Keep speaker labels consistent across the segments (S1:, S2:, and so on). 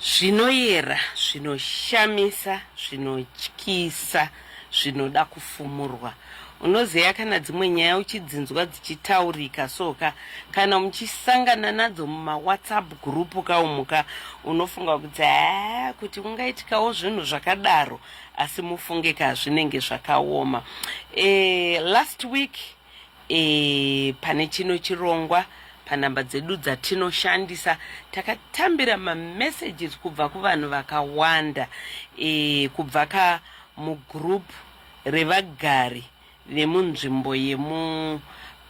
S1: Zvinoyera, zvinoshamisa, zvinotyisa, zvinoda kufumurwa. Unozeya kana dzimwe nyaya uchidzinzwa dzichitaurika so ka kana muchisangana nadzo mumawhatsapp group ka umu ka unofunga kuti haa kuti ungaitikawo zvinhu zvakadaro asi mufunge ka zvinenge zvakaoma e, last week e, pane chino chirongwa panhamba dzedu dzatinoshandisa takatambira mamessages kubva kuvanhu vakawanda e, kubva ka mugroup revagari vemunzvimbo yemu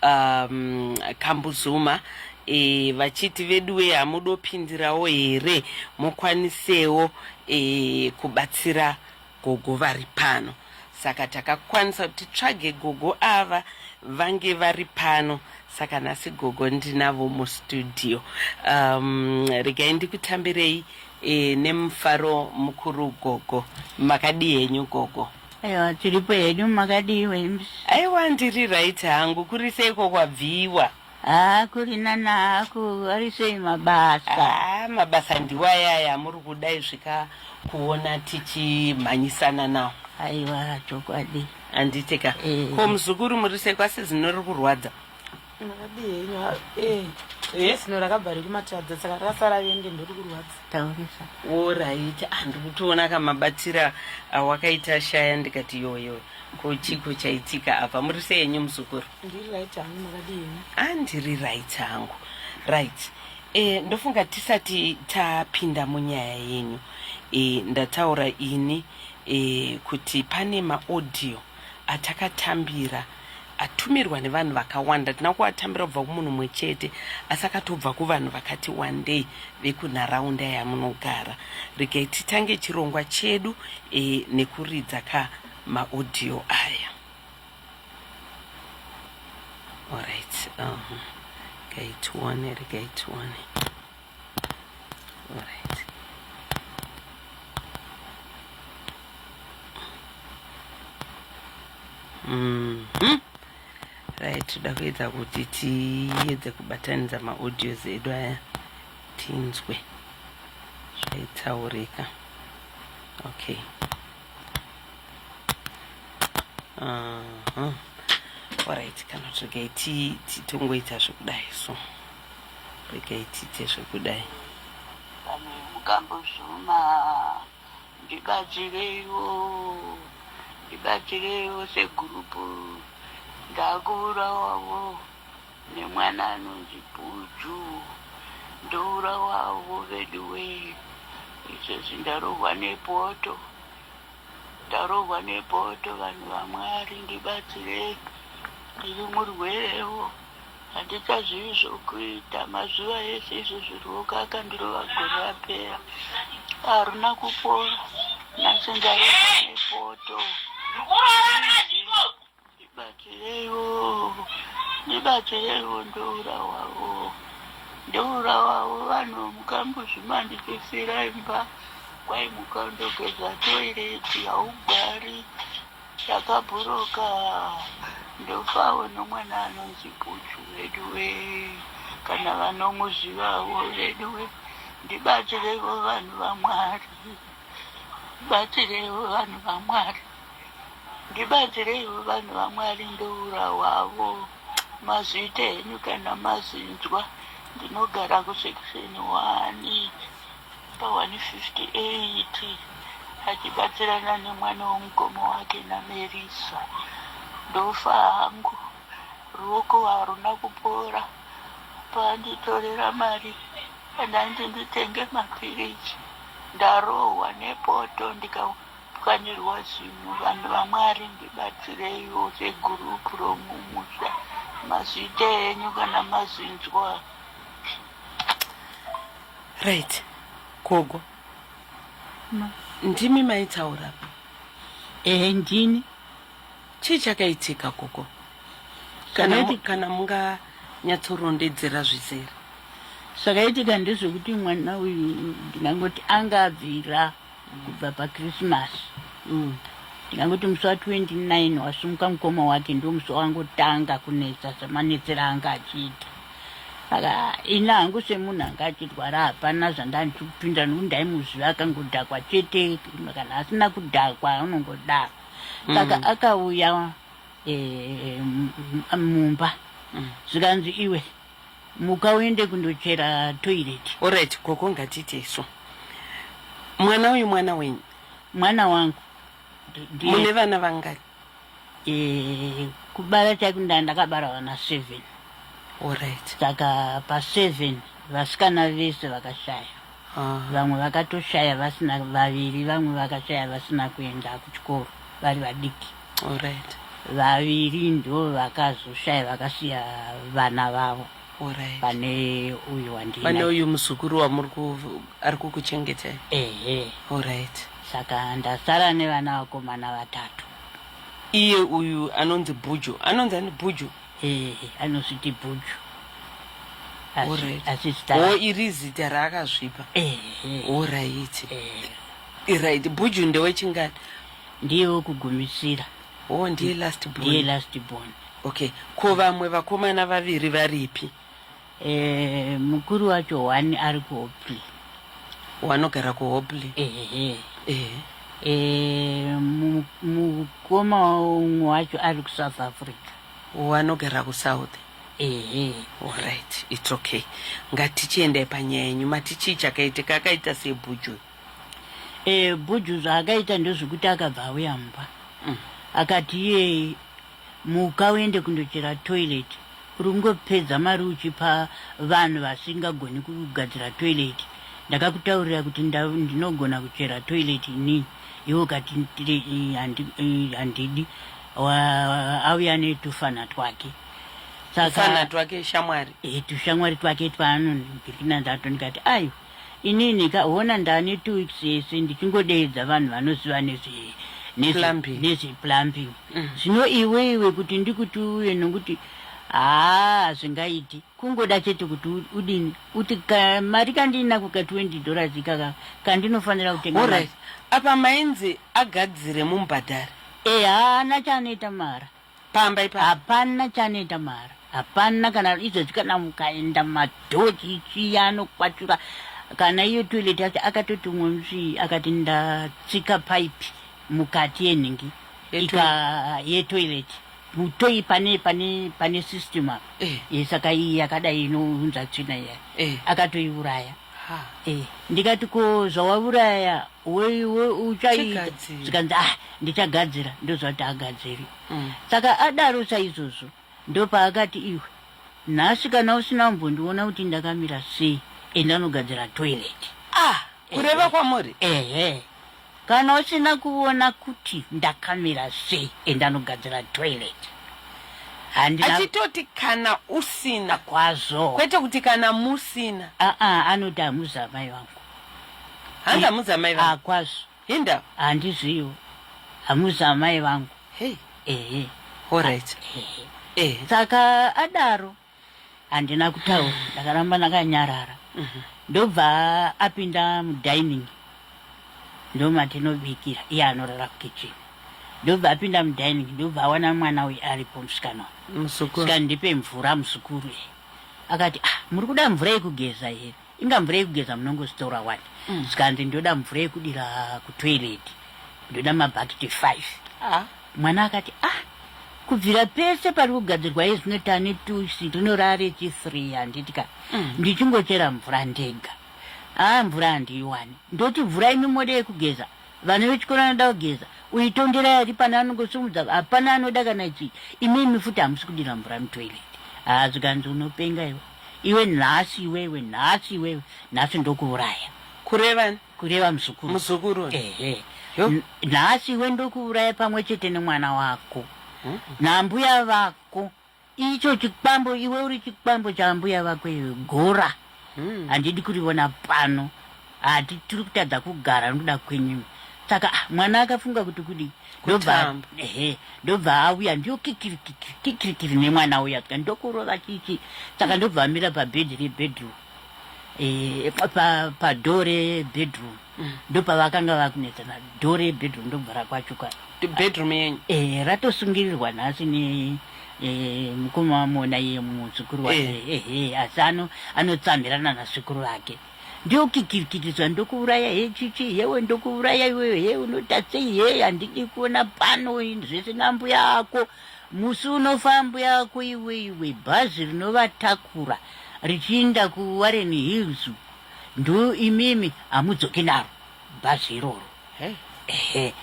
S1: um, kambuzuma e, vachiti veduwe hamudopindirawo here mukwanisewo e, kubatsira Gogo vari pano saka takakwanisa kuti tsvage gogo ava vange vari pano saka nhasi gogo ndinavo mustudio um, regai ndikutambirei e, nemufaro mukuru gogo makadii henyu gogo aiwa tiripo
S2: hedu makadii aiwa ndiri
S1: right hangu kuri seiko kwabviwa Haa kurina
S2: naku arisei mabasa. Haa mabasa
S1: ndiwayaya muri kuda izvi ka kuona tichimhanyisana nawo. Aiwa
S2: chokwadi. Handiti ka.
S1: Eh. Ko muzukuru muri sei kwasi zino riri kurwadza. Ndakadii
S3: henyu eh. Eh? Zino rakabva rikumatadza saka rakasara vende ndiri kurwadza. Taurisa.
S2: Alright
S1: handikutoona kamabatira awakaita shaya ndikati yoyo. Ko chiko chaitika apa muri sei henyu muzukuru? Ndiri right hangu
S3: makadii henyu? Ah ndiri right hangu.
S1: Right. Eh ndofunga tisati tapinda munyaya yenyu. Eh ndataura ini eh kuti pane ma audio atakatambira atumirwa nevanhu vakawanda tina kuatambira kubva kumunhu mumwe chete asi akatobva kuvanhu vakati wandei vekunharaunda yamunogara regai titange chirongwa chedu e, nekuridza ka maaudio aya allright um, regai tione regai tione Mm -hmm. Right, toda kuedza kuti tiedze kubatanidza maaudios edu aya tinzwe zvaitaurika okay uh -huh. alright kana togai tongoita zvekudai so rekaitite zvekudai pamwe
S2: mukambozuma ndibatsireiwo ndibatsireiwo segurupu ndakuurawawo nemwana anonzi buju ndourawawo veduwe izvezvi ndarohwa nepoto ndarohwa nepoto vanhu vamwari ndibatsirei ndiri murwerewo Handichazivi zvokuita. Mazuva ese izvozvi ruoko akandirova gore rapera haruna kupora. Nhasi ndarova nepoto. Ndibatsireiwo, ndibatsireiwo ndourawawo. Ndourawawo vanhu mukambuzvi mandipisiira imba kwai muka undogeza toireti haugari Ndakaburuka ndofawo nomwana anonzi Bhudhu veduwe, kana vanomuzivawo veduwe, ndibatirevo vanhu vaMwari, ndibatirevo vanhu vaMwari, ndibatirevo vanhu vaMwari, ndourahwavo mazita enyu kana mazinzwa, ndinogara kusekisheni hwani. Pa158 achibatsirana nemwana wemukoma wake naMerisa. Ndofa hangu, ruoko haruna kupora. Paanditorera mari yandainzi nditenge mapiritsi ndarohwa nepoto ndikapwanyirwa zino. Vanhu vaMwari ndibatsireiwo segurupu romumusha. Mazviita henyu kana mazvinzwa.
S1: right gogo Ma. ndimi maitaura ehe ndini chii chakaitika gogo kana, kana munga nyatsorondedzera zvizere zvakaitika
S2: ndezvekuti mwana uyu ndingangoti anga abvira kubva pakrisimasi mm. ndingangoti musi wa29 wasumuka mukoma wake ndo musi wangotanga kunetsa semanetsera anga achiita aka ini hangu semunhu anga achirwara hapana zvandandichi kupinda nokuti ndaimuziva akangodhakwa chete kana asina kudhakwa unongodaro mm. saka mm. akauya e, mumba mm. zvikanzi iwe Muka uende kundochera toilet. Alright gogo ngatiite
S1: isu. Mwana uyu mwana wenyu? Mwana wangu.
S2: Ndiye. Mune
S1: vana vangani? Eh,
S2: kubara chaiko nda ndakabara vana seven. Alright.
S1: Saka pa
S2: seven vasikana vese vakashaya. vamwe vakatoshaya vasina vaviri vamwe vakashaya vasina kuenda kuchikoro vari vadiki Alright.
S1: vaviri
S2: ndo vakazoshaya vakasiya vana vavo Alright. pane
S1: uyu
S2: wandina pane uyu muzukuru
S1: wamuri ku- ari kukuchengetai ehe Alright. saka
S2: ndasara nevana vakomana vatatu
S1: iye uyu anonzi bhuju anonzi ani bhuju Eh, anozviti
S2: bhuju Alright.
S1: asi zita o rake iri zita raakazvipa Eh, eh, oraiti eh. iraiti bhuju ndewechingani ndiye
S2: wekugumisira o ndiye
S1: last ndiye born last born
S2: okay ko
S1: vamwe vakomana vaviri varipi Eh,
S2: mukuru wacho wani ari kuhopley
S1: wanogara kuhopley ehe eh. eh,
S2: mukoma umwe wacho ari kusouth africa wanogara
S1: kusouth ehe orit its okay ngatichiendai panyaya yenyu mati chii chakaitika akaita sei bhuju e eh,
S2: bhuju zvaakaita ndezvekuti akabva auya mumba mm. akati iyeye Muka uende kundochera toilet urikungopedza mari uchipa vanhu vasinga goni kugadzira toilet ndakakutaurira kuti ndinogona kuchera toilet ini iwe ukati handidi auya netufana twake saka tufana
S1: twake shamwari eh, tushamwari twake
S2: twaanonipinda ndato ndikati aiwa Inini ka hona ndane two weeks yese ndichingodeedza vanhu vanoziva nezve nezve Plumbing. nezve plumbing. Zvino iwe iwe kuti ndikuti uuye nokuti haa hazvingaiti. Kungoda chete kuti u- udini uti ka mari kandinako ka 20 dollars ikaka kandinofanira kutenga Alright. mari. Apa
S1: mainzi agadzire mumubhadhare. Eh haana
S2: chaanoita mara. Pamba ipa
S1: hapana chanoita
S2: mara hapana kana izvezvi kana mukaenda madhoji itsviya anokwachura kana iyo toilet yacho akatoti umwe musi akati ndatsika pipe mukati yenhingi ika yetoilet mutoi pane pane pane system apa eh. eh, saka iyi yakadai inounza tsvina iya eh. akatoiuraya Ha, eh. ndikati ko zvawavuraya we- we- uchaita Chigadzira. zvikanzi ah ndichagadzira ndozvati agadziri Mm. saka adaro saizvozvo ndopaakati iwe nhasi kana usina kumbondiona kuti ndakamira sei enda unogadzira toilet ah kureva
S1: kwamuri ehe
S2: Kana usina kuvona kuti ndakamira sei enda nogadzira toilet. Handina Achitoti
S1: kana usina kwazvo. kwete
S2: kuti kana
S1: musina. Aa anoti
S2: hamuzi amai vangu. Hanzi
S1: hamuzi amai vangu. Ah kwazvo. Hinda. Handizviwo.
S2: Hamuzi amai vangu. Hey. Ehe. Alright.
S1: Ehe. Ehe. Saka
S2: adaro. handina kutaura ndakaramba ndakanyarara mhm. ndobva apinda mudining ndomatinobikira iye anorara kukitchen ndobva apinda mudining ndobva awana mwana uyu aripo musikana musikana ndipe mvura muzukuru akati ah, muri kuda mvura yekugeza here inga mvura yekugeza munongozvitora wani mm. zvikanzi ndoda mvura yekudira kutoilet ndoda mabhakiti five ah. mwana akati ah kubvira pese pari kugadzirwa yezvino tane tusi rinorare chifree handiti ka mm. ndichingochera mvura ndega aa ah, mvura handiiwani ndoti mvura imi mode yekugeza Vana vechikoro anoda kugeza uyu tondera yari pana anongosumudza hapana anoda kana chii imimi futi hamusi kudira mvura mutoilet haa zvikanzi unopenga iwe iwe nhasi iwewe nhasi iwewe nhasi ndokuuraya kureva
S1: kureva muzukuru
S2: muzukuru ehe nhasi iwe ndokuuraya pamwe chete nemwana wako nambuya vako Icho chikwambo iwe uri chikwambo chaambuya vako iwe gora. Hmm. Handidi kurivona pano. Hati tiri kutadza kugara nokuda kwenyu. Saka ah, mwana akafunga kuti kudii? Ndobva ehe, ndobva auya ndiyo kikiri kikiri kikiri kiri nemwana uya tika ndokurova chichi. Saka ndobva amira pabed rebedroom. Eh, pa pa door rebedroom. mm. ndopavakanga vakuneta na door yebedroom ndobva rakwachuka bedroom yenyu
S1: eh ratosungirirwa
S2: nhasi ne eh, mukoma wamona iye muzukuru wake eh. eh, eh, asi ano anotsamhirana nasekuru vake ndokikirikitidzwa ndokuuraya he chichi hewe ndokuuraya iweyo he unotatsei he handidi kuona pano zvese nambuya ako musi unofa mbuya ako iwe iwe bhazi rinovatakura richiinda kuwarren hills Ndo imimi hamudzoki naro bhazi iroro. Ehe.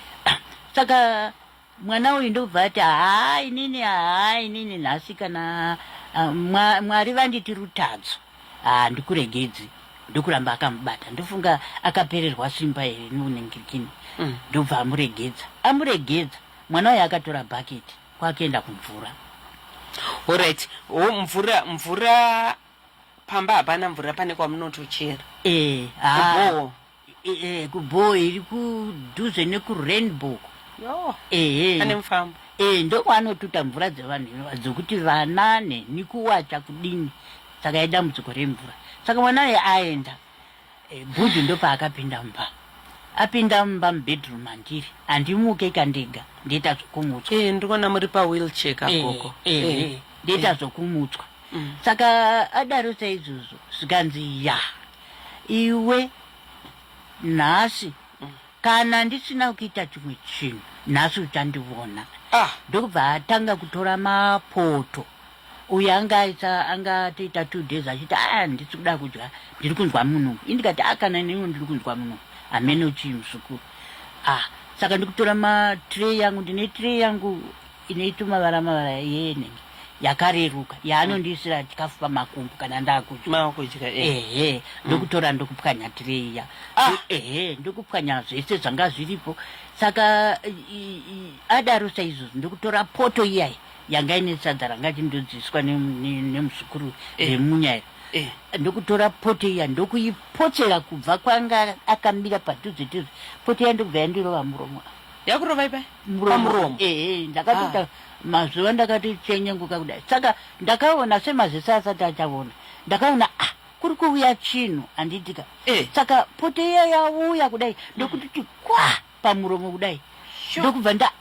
S2: Saka mwana uyu ndobva ati haa inini haa inini nhasi kana ah, mwa- Mwari vanditi rutadzo handikuregedzi ndokuramba akamubata ndofunga akapererwa simba here noningirikini ndobva amuregedza amuregedza mwana uyu akatora bhaketi kwakuenda kumvura
S1: Alright. Oh, mvura mvura pamba hapana mvura pane kwamunotochera eh ah
S2: eh kubhowa iri kudhuze nekurainbow yo eh
S1: pane mufambo eh ndokwanotuta
S2: mvura dzevanhu ivava dzokuti vana neni kuwacha kudini saka idambudziko remvura saka mwana aye aenda Bhudhi ndopaakapinda mumba. Apinda mumba mubedroom mandiri handimuke ka ndega ndoita zvokumutswa. Eh ndikuona muri pa
S1: wheelchair ka gogo. Eh, eh, eh, ndoita
S2: zvokumutswa. Mm. Saka adaro saizvozvo zvikanzi ya iwe nhasi Kana ndisina kuita chimwe chinhu nhasi uchandivona. Ah. Ndokubva atanga kutora mapoto uyu anga aisa anga atoita two days achiti a ah, ndisi kuda kudya ndiri kunzwa munhu indikati a ah, kana neniwo ndiri kunzwa munhu hameno chii muzukuru a ah, saka ndikutora matree yangu ndine tree yangu inoita mavara mavara yene yakareruka yaanondiisira chikafu pamakumbu kana ndakudya ehe mm. ndokutora ndokupwanya tireiya ah! ehe ndokupwanya zvese zvanga zviripo saka adaro saizvozvo ndokutora poto iyayi yanga ine sadza ranga chindodziiswa nemuzukuru remunya iri Eh. ndokutora poto iya ndokuipotsera kubva kwanga akamira padhuze dhuze poto iya ndokubva yandirova muromo yakurova ipai
S1: muromo ehe
S2: ndakatoita ah. mazuva ndakati chenyenguka kudai saka ndakaona semaziso asati achaona ndakaona ah kuri kuuya chinhu handiitika eh. saka pote iya yauya kudai ndokutiti kwa pamuromo kudai ndokubva nda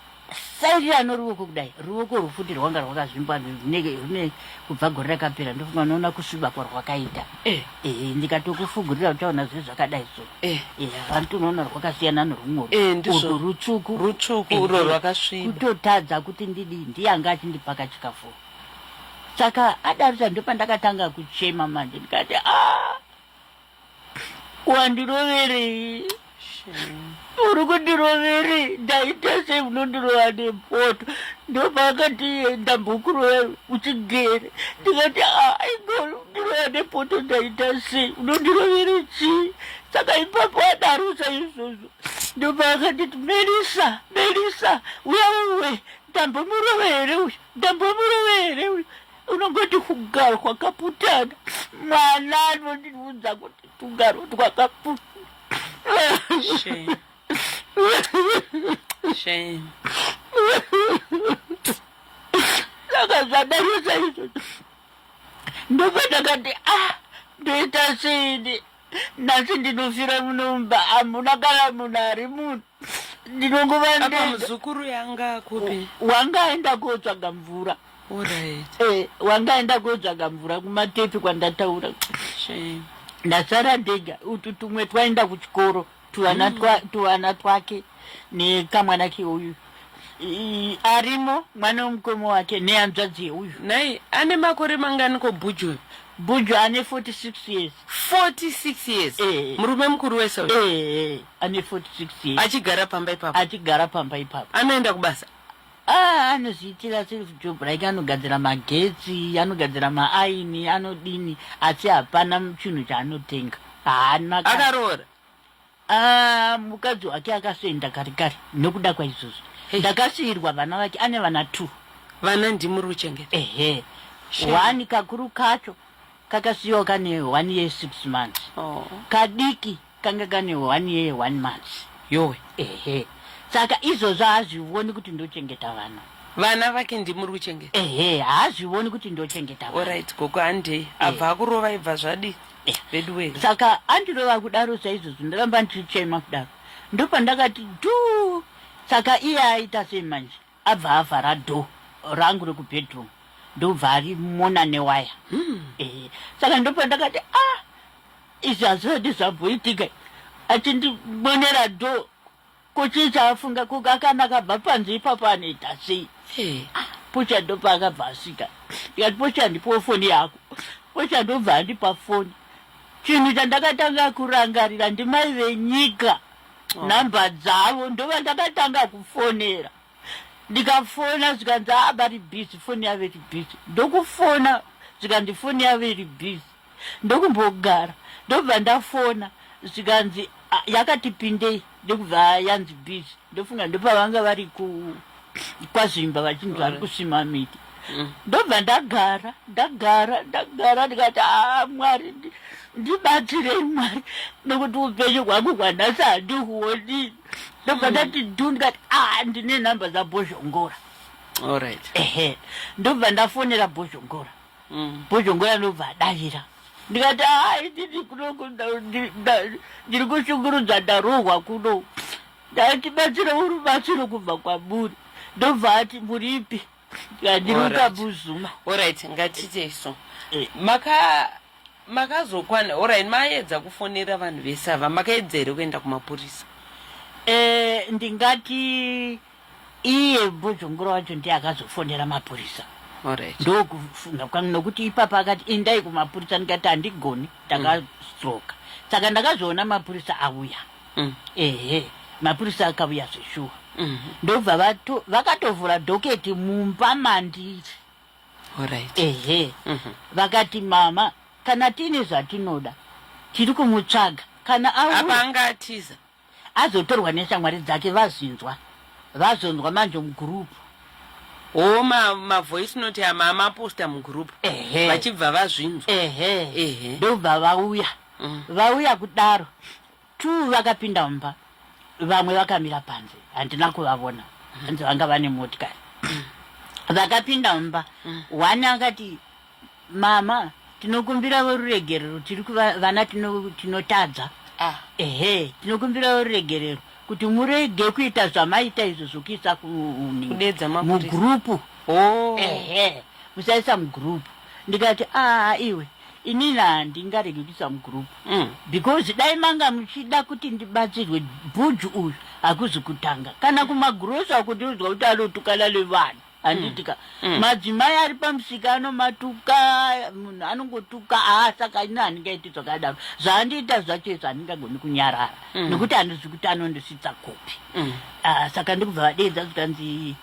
S2: sairira noruoko kudai ruoko rwufuti rwanga rwakazvimba rune kubva gore rakapera ndofunga unoona kusviba kwarwakaita eh. ehe ndikatokufugurira uchaona zve zvakadai so Eh, eh, vari tunoona rwakasiyana nerumwe eh, ndizvo rutsvuku rutsvuku uro eh,
S1: rwakasviba kutotadza kuti
S2: ndidi ndiyanga achindipaka chikafu saka adarisa ndopandakatanga kuchema manje ndikati ah, wandiroverei uri kundiroverei ndaita sei unondirova nepoto ndopaakati ndambokurova uchigere ndikati ah, aigolo ndiroya nepoto ndaita sei unondirovere chii saka ipapo adaro saizvozvo ndopaakanditi melisa melisa uya uwe ndambomurove here uyu ndambomurove here uyu unongoti kugaro kwakaputana mwana anondiudza kuti tugaro twakaputana Shame. Saka zvadaro saizvozvo ndopandakati ah ndoita seini nhasi ndinofira munomba hamuna kana munhu ari munhu ndinongova muzukuru
S1: yanga kupi wanga aenda
S2: kotsvaga mvura eh, wanga aenda kotsvaga mvura kumatepi kwandataura ndasara ndega utu tumwe twaenda kuchikoro tuana twa, tuana twake nekamwana keuyu I- arimo mwana wemukoma wake nehanzvadzi yeuyu nhai ane makore
S1: mangani ko bhuju uyu bhuju ane 46
S2: years 46
S1: years Eh. murume mukuru wese uyu Eh, ane 46
S2: years achigara pamba ipapo
S1: achigara pamba ipapo anoenda kubasa
S2: Ah, anozviitira self job like anogadzira magetsi anogadzira maaini anodini asi hapana chinhu chaanotenga haana ka- akaroora
S1: Ah,
S2: mukadzi wake akasoenda kare kare nokuda kwaizvozvo Hey. ndakasiirwa vana vake ane vana two vana ndimuri
S1: kuchengeta ehe Shame. wani
S2: kakuru kacho kakasiyiwa kane one year six months oh. kadiki Kanga kane one year one month yowe
S1: ehe
S2: saka izvozvo haazvivoni kuti ndochengeta vana vana vake
S1: ndimuri kuchengeta ehe haazvivoni
S2: kuti ndochengeta vana orit gogo handei
S1: abva akurova ibva zvadi Eh. vedu wee saka andirova
S2: kudaro saizvozvo ndaramba ndichichema kudaro ndopandakati tu saka iye aita sei manje Abva avhara door rangu reku bedroom ndokubva ari mona newaya hmm. eh, saka ndopa ndakati a ah, izvi hazvodi zvamboitika achindibonera door ko chii chaafunga ko akana akabva panze ipapo anoita sei eh. ah, pocha ndopa akabva asvika ndikati pocha ndipowo foni yako pocha ndobva andipa foni chinhu chandakatanga kurangarira ndimai venyika oh. number dzavo ndovandakatanga kufonera ndikafona zvikanzi aa ah, vari busy foni yavo iri busy ndokufona zvikanzi foni yavo iri busy ndokumbogara ndobva ndafona zvikanzi ah, yakatipindei ndokubva yanzi busy ndofunga ndopavanga vari ku kwaZvimba vachinzi vari kusima miti mm. ndobva ndagara ndagara ndagara ndikati aa ah, mwari ndibatsirei mwari nekuti upenyu hwangu hwanhasi handihuoni ndobva mm. ndati dhu ndikati a ah, ndine nhamba dzabhozhongora allright ehe ndobva ndafonera bhozhongora mm. bhozhongora ndobva adavira ndikati aa ah, inini kuno ndiri kushungurudza ndarohwa kuno Ndatibatsira urubatsiro kubva kwamuri ndobva ati muripi yandiruka buzuma orit ngatite
S1: so eh. maka makazokwana orit maedza kufonera vanhu vese ava makaedza here kuenda kumapurisa eh, ndingati
S2: iye bhozhongura wacho ndiye akazofonera mapurisa ndokufunga kwangu nokuti ipapa akati indai kumapurisa ndikati handigoni ndakadzoka mm. saka ndakazoona mapurisa auya mm. ehe mapurisa akavuya zveshuwa mm -hmm. ndobva vato vakatovhura doketi mumba mandiri right. ehe mm -hmm. vakati mama kana tiine zvatinoda tiri kumutsvaga kana apa anga atiza
S1: azotorwa
S2: neshamwari dzake vazinzwa vazonzwa manje mugurupu o mavoice
S1: ma note ama amaposta mugurupu vachibva vazvinzwa ehe ehe ndobva
S2: vauya mm. vauya kudaro Two vakapinda mumba vamwe vakamira panze handina kuvavona hanzi vanga vane motikari vakapinda mumba mm. one akati mama tinokumbiravo ruregerero tiri kuvana tinotadza ah. ehe tinokumbiravo ruregerero kuti murege kuita zvamaita izvo zvokuisa mugrupu oh. ehe musaisa mugrupu ndikati aa ah, iwe Inini handingaregi kuisa mugroup mm. because dai manga muchida kuti ndibatsirwe bhuju uyu hakuzi kutanga kana mm. kumagrosi akundiudzwa kuti anotukana nevanhu handitika mm. mm. madzimai ari pamusika anomatuka munhu anongotuka aa ah, saka ini handingaiti zvakadaro zvaandiita zvacho izvo handingagoni kunyarara mm. nekuti handizi kuti anondisvitsa kopi mm. aa ah, saka ndikubva vadeedza kutanzi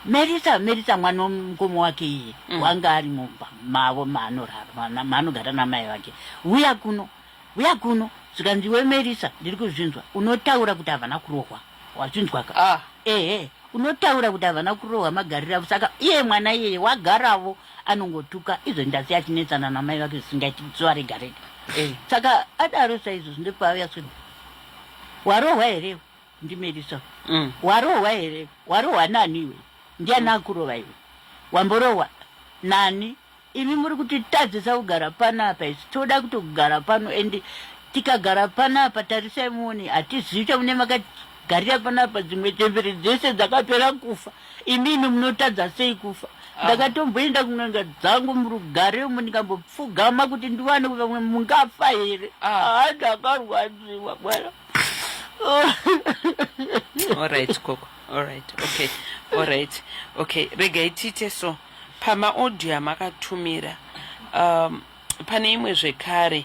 S2: Merita Merita mwana wemukoma wake iye mm. wanga ari mumba mavo maanorara maanogara namai vake uya kuno uya kuno zvikanzi iwe Merita ndiri kuzvinzwa unotaura kuti havana kurohwa wazvinzwaka ah. ehe unotaura kuti havana kurohwa magariro avo saka iye mwana iyeye wagaravo anongotuka izvo ndasi achinetsana namai vake zvisingaiti zuva rega rega eh. saka adaro saizvozvi ndekwaauya swe warohwa here ndimerisa mm. warohwa here warohwa nani iwe ndiani mm. akurohwa iwe wamborohwa nani imi muri kuti tadzisa kugara pano apa isi toda kuti kugara pano and tikagara pano apa tarisai muoni hatizivi chamune makagarira pano apa dzimwe chembere dzese dzakapera kufa imimi munotadza sei kufa ah. ndakatomboenda kun'anga dzangu murugare umo ndikambopfugama kuti ndiwane kuti vamwe mungafa here ah. haa ndakarwadziwa bwana
S1: all right koko all right okay all right okay regai tiite so pamaaudio amakatumira um, pane imwe zvekare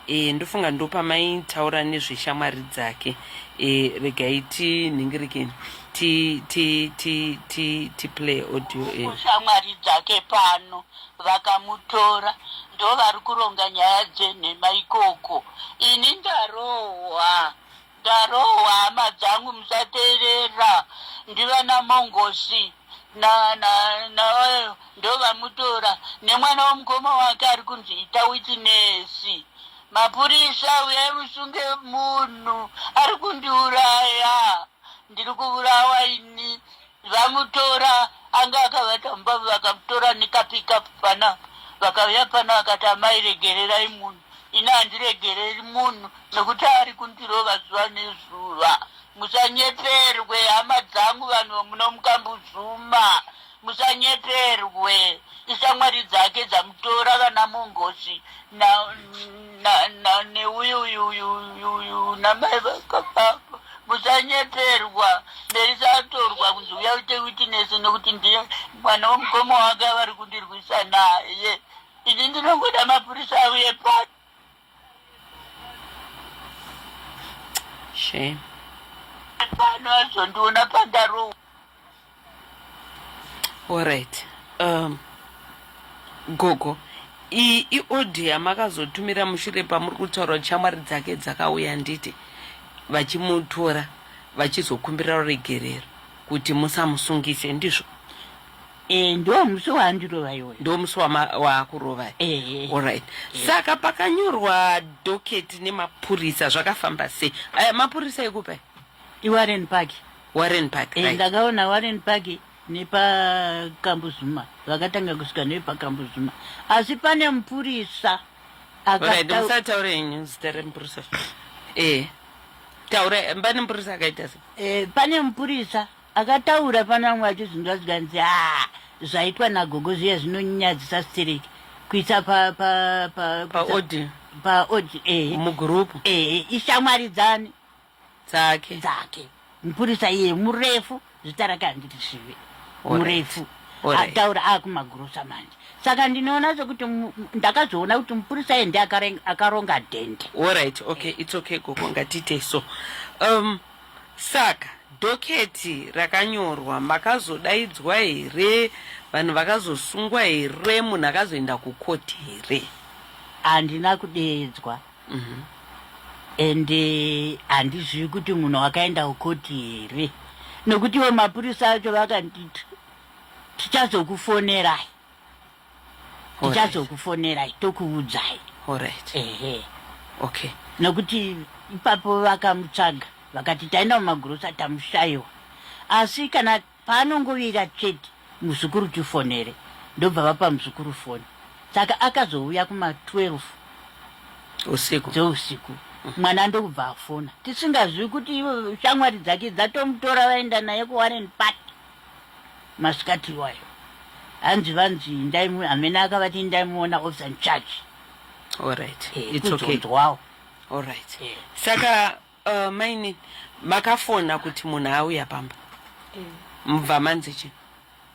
S1: e, ndofunga ndopamaitaura nezveshamwari dzake e, regai tinhingirikeni ti ti ti ti ti play audio e. shamwari dzake
S2: pano vakamutora ndovari kuronga nyaya dzenhema ikoko ini ndarohwa ndarohwa hama dzangu musateerera ndivana mongosi na na na ndovamutora nemwana womukoma wake ari kunzi ita witinesi mapurisa uyai musunge munhu ari kundiuraya ndiri kuvurawa ini Vamutora anga akavata mumba vakamutora nekapickup pana vakauya pano akati amai regererai munhu ini handiregereri munhu nekuti ari kundirova zuva nezuva musanyeperwe hama dzangu vanhu muno mukambuzuma musanyeperwe ishamwari dzake dzamutora vana mongosi na na na neuyu uyu uyu uyu uyu namai vakapako musanyeperwa ndaisatorwa kunzi uya uite witinesi nokuti ndiye mwana womukoma wake avari kundirwisa naye ini ndinongoda mapurisa auye pati
S1: shame
S2: pano azondiona pandarowa
S1: Alright. Um, gogo, iyi iodhi yamakazotumira mushure pamuri kutaura shamwari dzake dzakauya nditi vachimutora vachizokumbira ruregerero kuti musamusungise ndizvo Eh,
S2: ndo musi waandirova iwoyo. ndo musi wama-
S1: waakurova Eh, Alright. Saka pakanyorwa doketi nemapurisa zvakafamba sei? Aya mapurisa ekupai? iWarren Park.
S2: Warren Park.
S1: Eh, ndakaona Warren Park
S2: nepakambuzuma vakatanga kusvika nepakambuzuma asi pane mupurisa akataura
S1: henyu zita remupurisa eh taura pane mupurisa akaita se eh pane mupurisa
S2: akataura pana vamwe vacho zvinhu zvazvikanzi a ah, zvaitwa nagogo zviya zvinonyadzisa stereki kuisa pa pa pa
S1: pa odi pa odi eh mugroup eh
S2: ishamwaridzani
S1: dzake dzake
S2: mupurisa iye murefu zita rake handiti zvive murefu ataura akumagurosa manje saka ndinoona sekuti ndakazoona kuti mupurisa iye ndi akaronga dhende orit okay its
S1: okay gogo ngatiite so um saka doketi rakanyorwa makazodaidzwa here vanhu vakazosungwa here munhu akazoenda kukoti here handina
S2: kudeedzwa Mhm. ende handizivi kuti munhu wakaenda kukoti here nokuti ivo mapurisa acho vakanditi tichazokufonerai Alright. tichazokufonerai tokuudzai Alright.
S1: ehe Okay. nokuti
S2: ipapo vakamutsvaga vakati taenda mumagurosa tamushaiwa asi kana Paanongovira chete muzukuru tifonere ndobva vapa muzukuru foni saka akazouya kuma 12 usiku dzeusiku mwana ndokubva afona tisingazivi kuti ivo shamwari dzake dzatomutora vaenda naye kuwarren park masikati iwayo hanzi vanzi indai hamene akavati indai muona officer in charge All right.
S1: Eh, It's okay. kuzonzwawo All
S2: right. Eh.
S1: Saka Uh, mainin makafona kuti munhu auya pamba mubva manzi chi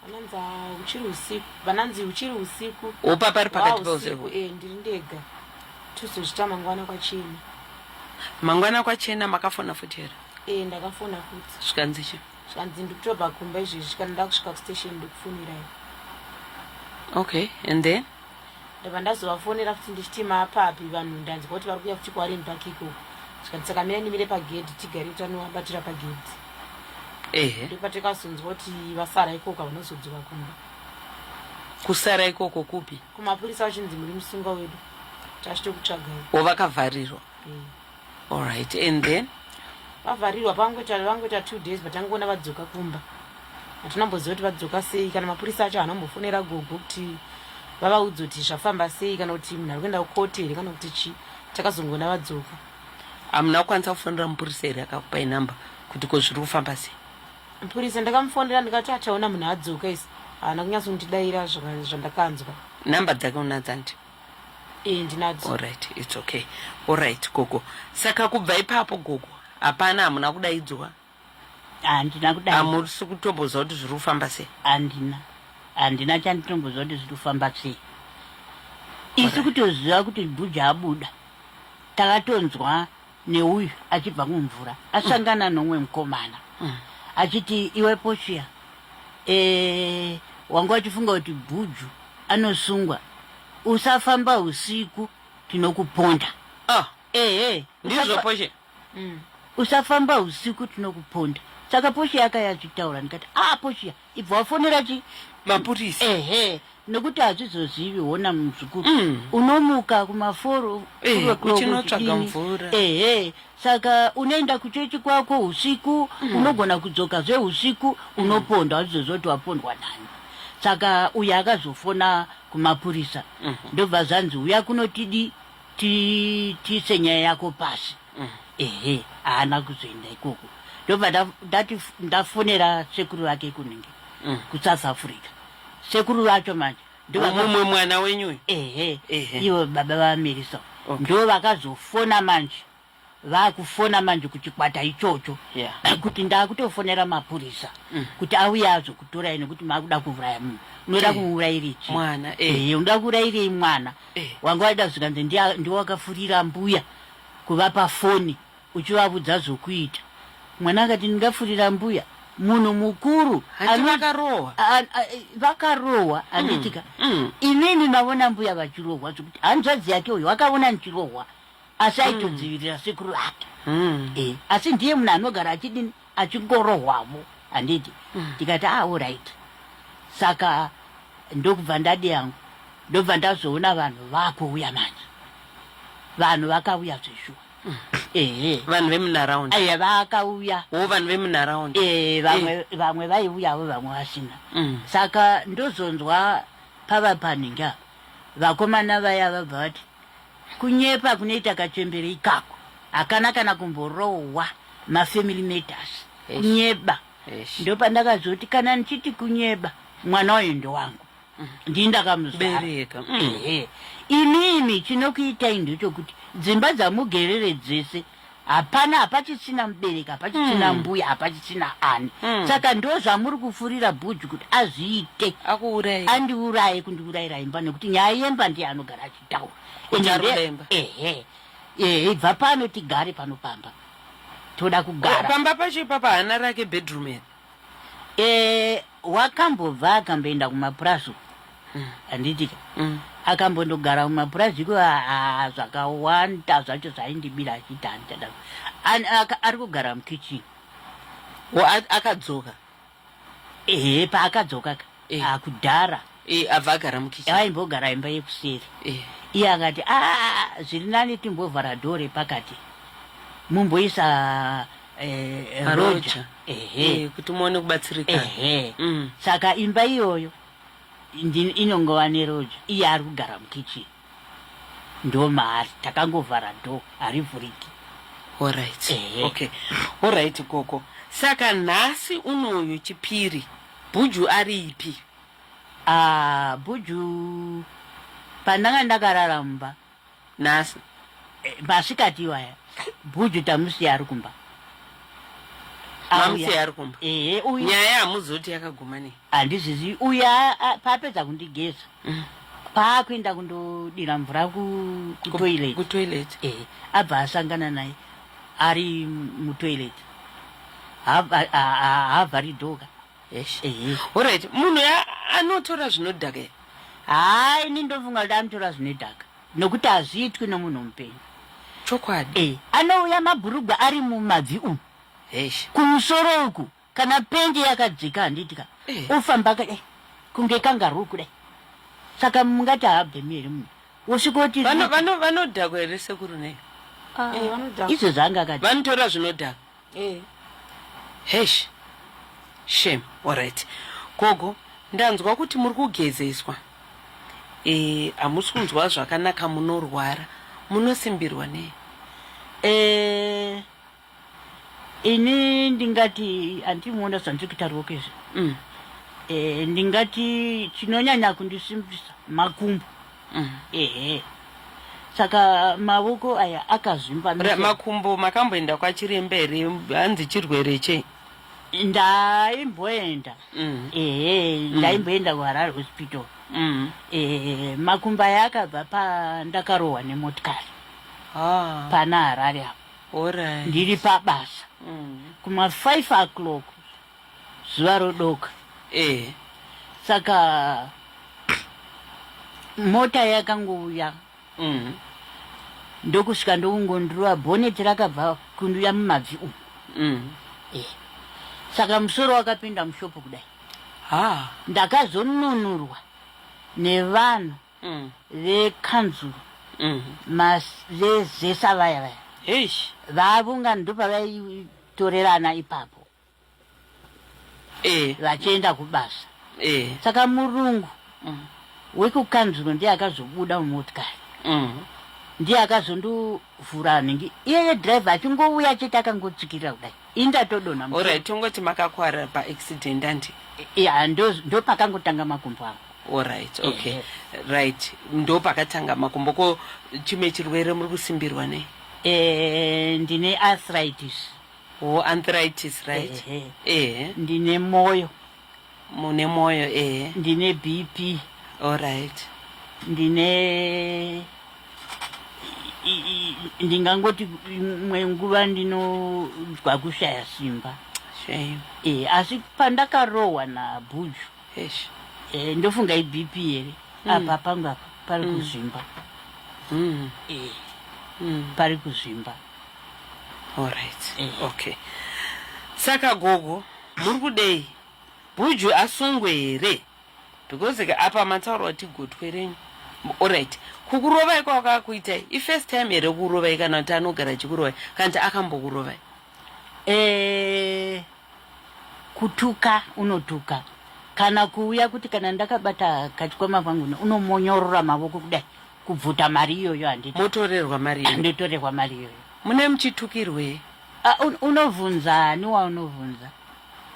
S1: vananzi "Ah, huchiri usiku
S3: vananzi huchiri usiku wopa pari pakati Wow, peusiku
S1: usiku eh, ndiri ndega
S3: tozozvita mangwana kwachena mangwana
S1: kwachena makafona futi here eh, ndakafona futi
S3: zvikanzi chi
S1: zvikanzi ndikutobva
S3: kumba izvezvi kana ndakusvika kustation ndikufumirai
S1: okay and then ndabva
S3: ndazovafonera futi ndichiti mapapi vanhu ndanzwa kuti vari kuya futi kwarini pakiko zvikanzi saka mira ndimire pagedhi tigare tanovabatira pagedhi ehe ndopatikazonzwa kuti vasara ikoko vanozodzoka kumba
S1: kusara ikoko kupi kumapurisa vachinzi muri
S3: musunga wedu tachitokutsvagai ovakavharirwa
S1: mm. Alright, and then vavharirwa
S3: pangoita vangoita two days but angoona vadzoka kumba hatina mboziva kuti vadzoka sei kana mapurisa acho hana kumbofonera gogo kuti vavaudza kuti zvafamba sei kana kuti munhu ari kuenda kukote here kana kuti chii takazongoona vadzoka hamuna
S1: kukwanisa kufonera mupurisa here akakupai number kuti ko zviri kufamba sei mupurisa
S3: ndakamufonera ndikati achaona munhu adzoka isi haana kunyatso kundidayira zvandakanzwa number dzake
S1: unadzandi
S3: Alright, it's
S1: okay. Alright, gogo. Saka kubva ipapo gogo, hapana hamuna kudaidzwa. Handina
S2: kudai. Hamusi kutomboziva
S1: kuti zviri kufamba sei? Handina.
S2: Handina chanditomboziva kuti zviri kufamba sei. Isu kutoziva kuti Bhuja abuda. Takatonzwa neuyu achibva kumvura asangana nomwe mukomana achiti iwe pochiya e, wanga wachifunga kuti bhuju anosungwa usafamba usiku tinokuponda ah ehe
S1: ndizvo poshe usafamba
S2: usiku tinokuponda saka poshiya akaya achitaura ndikati ah poshiya ibva wafonera chi mapurisa
S1: ehe
S2: nekuti hazvizozivi hona muzukuru mm. unomuka kumaforo eh, uchinotsvaga
S1: mvura ehe saka
S2: unoenda kuchechi kwako usiku mm. unogona kudzoka zveusiku mm. unopondwa hazvizoziva kuti wapondwa nani saka uye akazofona kumapurisa mm -hmm. ndobva zvanzi uya kunotidi tiise nyaya yako pasi ehe haana kuzoenda ikoko ndobva nda- ndati f- ndafonera sekuru vake kunenge kusouth africa sekuru vacho manje ndovaka- mumwe mwana
S1: wenyu uyu ehe Ehe. ivo
S2: baba vamerisa Okay. ndo vakazofona manje vakufona manje kuchikwata ichocho Yeah. kuti ndakutofonera mapurisa kuti auya azokutorai nekuti makuda kuuraya munhu unoda Eh. kuurayirei chii? Mwana, eh. Eh,
S1: unoda kuurayirei
S2: mwana Eh. wanga waida zvikanzi ndiye- ndiwe wakafurira mbuya kuvapa foni uchivavudza zvokuita. Mwana akati ndingafurira mbuya munhu mukuru Hanti ano- vakarohwa? a- a- a- vakarohwa handitika mm. inini navona mbuya vachirohwa zvekuti hanzvadzi yake uyo akavona ndichirohwa asi aitodzivirira sekuru vake Mm. Eh, asi ndiye munhu anogara achidini achingorohwamo handiti mm. ndikati ah, alright saka ndokubva ndadi yangu ndobva ndazoona vanhu vakuuya manje vanhu vakauya zveshuwa mm. ehe
S1: vanhu vemunharaund aya vakauya
S2: wo vanhu vemunharaund
S1: e vamwe eh. vamwe
S2: vaiuyavo vamwe vasina mm. saka ndozonzwa pava panhingi apa vakomana vaya vabva vati Kunyepa kunoita kachembere ikako hakana kana kumborohwa mafamily matters kunyeba ndopandakazoti kana ndichiti kunyeba mwana uyu ndowangu mm. ndii ndakamubereka mm. inini chinokuitai ndechokuti dzimba dzamugerere dzese hapana hapachichina mubereki hapachichina mm. mbuya hapachichina ani mm. saka ndo zvamuri kufurira bhuji kuti azviite akuuraye andiuraye kundiurayira imba nekuti nyaya yemba ndiye anogara achitaura kunyaruremba ehe ehe ibva pano tigare pano pamba toda kugara pamba pacho ipapa hana
S1: rake bedroom ere
S2: Eh, wakambobva akamboenda kumapurazi uko handitika akambondogara kumapurazi iko ah, ah, zvakawanda zvacho zvaindibira achiti handichada An- aka- ari kugara mukitchen Wa- a- akadzoka
S1: ehe paakadzoka
S2: ka Eh. ah, kudhara Eh, abva agara
S1: mukitchen aimbogara imba yekuseri
S2: Eh. iye akati "Ah, zviri nani timbovhara dhoo repakati mumboisa eh, eh, Maroja. roja ehe Eh,
S1: kuti muone kubatsirika ehe Mm. saka
S2: imba iyoyo ndi- inongova neroja iye ari kugara mukitchen ndo maari takangovhara do harivhuriki Alright. Ehe. Okay.
S1: Alright koko. Saka nhasi unoyu chipiri Buju aripi? Ah, buju
S2: pandanga ndakarara mumba Nhasi.
S1: eh,
S2: masikati iwaya buju tamusiya ari kumba Mamusiya
S1: ari kumba. ehe uyu Nyaya hamuzoti yakaguma nei? handizvizivi uye
S2: paapedza kundigeza mm. paakuenda kundodira mvura kutoilet ku eh, abva asangana naye ari mutoilet haavhari dhoka
S1: orit munhu anotora zvinodhaka ere haa
S2: ini ndofunga kuti anotora zvinodhaka nokuti hazviitwi nomunhu mupenyu chokwadi eh,
S1: anouya
S2: mabhurugwa ari mumabvi umu kumusoro uku kana pendi yakadzika handiti ka eh. ofamba ka dai kunge kangaru kudai saka mungati haabvemi here munhu wosvika kuti vanodhakwa
S1: here sekuru nei ah, eh,
S2: izvo zvaanga akati vanotora zvinodhaka
S1: eh. hesh shem orit gogo ndanzwa kuti muri kugezeswa e, hamusi kunzwa zvakanaka munorwara munosimbirwa nei e,
S2: ini ndingati handimuona zvandiri kutaurwa kezvi mm. e, ndingati chinonyanya kundisimbisa makumbo mm. ehe saka mavoko aya akazvimba makumbo
S1: makamboenda kwachiremba here hanzi chirwere chei ndaimboenda
S2: mm. ehe mm. ndaimboenda kuharare hospital mm. ehe makumbo aya akabva pandakarohwa nemotikari ah. pana harare apo Alright. ndiri pabasa kuma 5 o'clock zuva rodoka Eh. saka mota yakangouya Mm. ndokusvika ndokungondurova bhoneti rakabva kunduya mumabvi umu Mm. saka musoro wakapinda mushopu kudai Ha. ndakazonunurwa nevanhu mm. vekanzuru mm. vezesa vaya vaya vavunga ndopavaitorerana ipapo e. vachienda kubasa e. saka murungu mm. wekukanzuro ndiye akazobuda mumotikari mm. ndiye akazondiudza kuvhura anenge iyeye driver achingouya achiti akangotsvikirira kudai indatodona orit tongoti
S1: makakwara paaccident andi ya
S2: ndopakangotanga makumbo avo orit okay
S1: yeah. right ndopakatanga makumbo ko chimwe chirwere muri kusimbirwa nei e,
S2: ndine arthritis o oh, anthritis
S1: right ehe e. ndine
S2: moyo mune
S1: mwoyo ehe ndine bp
S2: allright
S1: ndine
S2: ndingangoti imwe nguva ndinogwa kushaya simba
S1: e, asi
S2: pandakarohwa nabhuju e, eh, ndofunga ibp here mm. apa pangu apa pari mm. kuzvimba mm. e, mm. pari kuzvimba allright
S1: e. okay saka gogo Muri kudei? Bhuju asungwe here? Because ka apa mataura kuti gotwe renyu. Alright. Kukurovai kwakakuitai? I first time here kukurovai kana kuti anogara achikurovai? Kana kuti akambokurovai? Eh
S2: kutuka unotuka kana kuuya kuti kana ndakabata kachikwama pangu unomonyorora mavoko kudai kubvuta mari iyoyo handiti motorerwa mari yenyu
S1: ndotorerwa mari iyoyo
S2: mune muchitukirwei
S1: Ah, un- unobvunza
S2: ani waunovhunza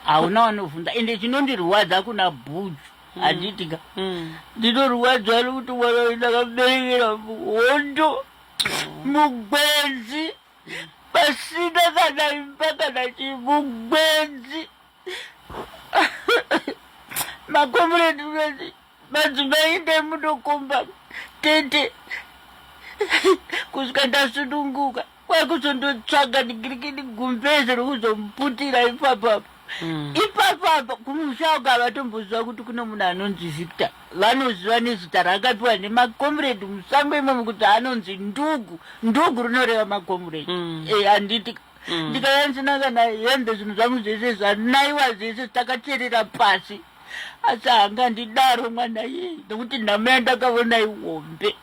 S2: hauna wanovhunza ende chinondirwadza kuna bhuju handiti ka Mm. ndinorwadzwa nokuti mwana uyu ndakaberekera hondo mugwenzi pasina kana imba kana chii mugwenzi makomuredi unoti Madzimai endai munokomba tete kusvika ndasununguka kwakuzondotsvaga digirikidi gumbeze rokuzomuputira ipapapa Mm. ipapapa kumusha uko havatomboziva kuti kune munhu anonzi victor vanoziva nezita raakapiwa nemakomuredi musango imomo kuti anonzi ndugu ndugu rinoreva makomuredi Mm. Eh, handiti Mm. ndikayanzinaka naye hembe zvinhu zvangu zvese zvanaiwa zvese takacherera pasi asi haangandidaro mwana yeye nekuti nhamo yandakavona ihombe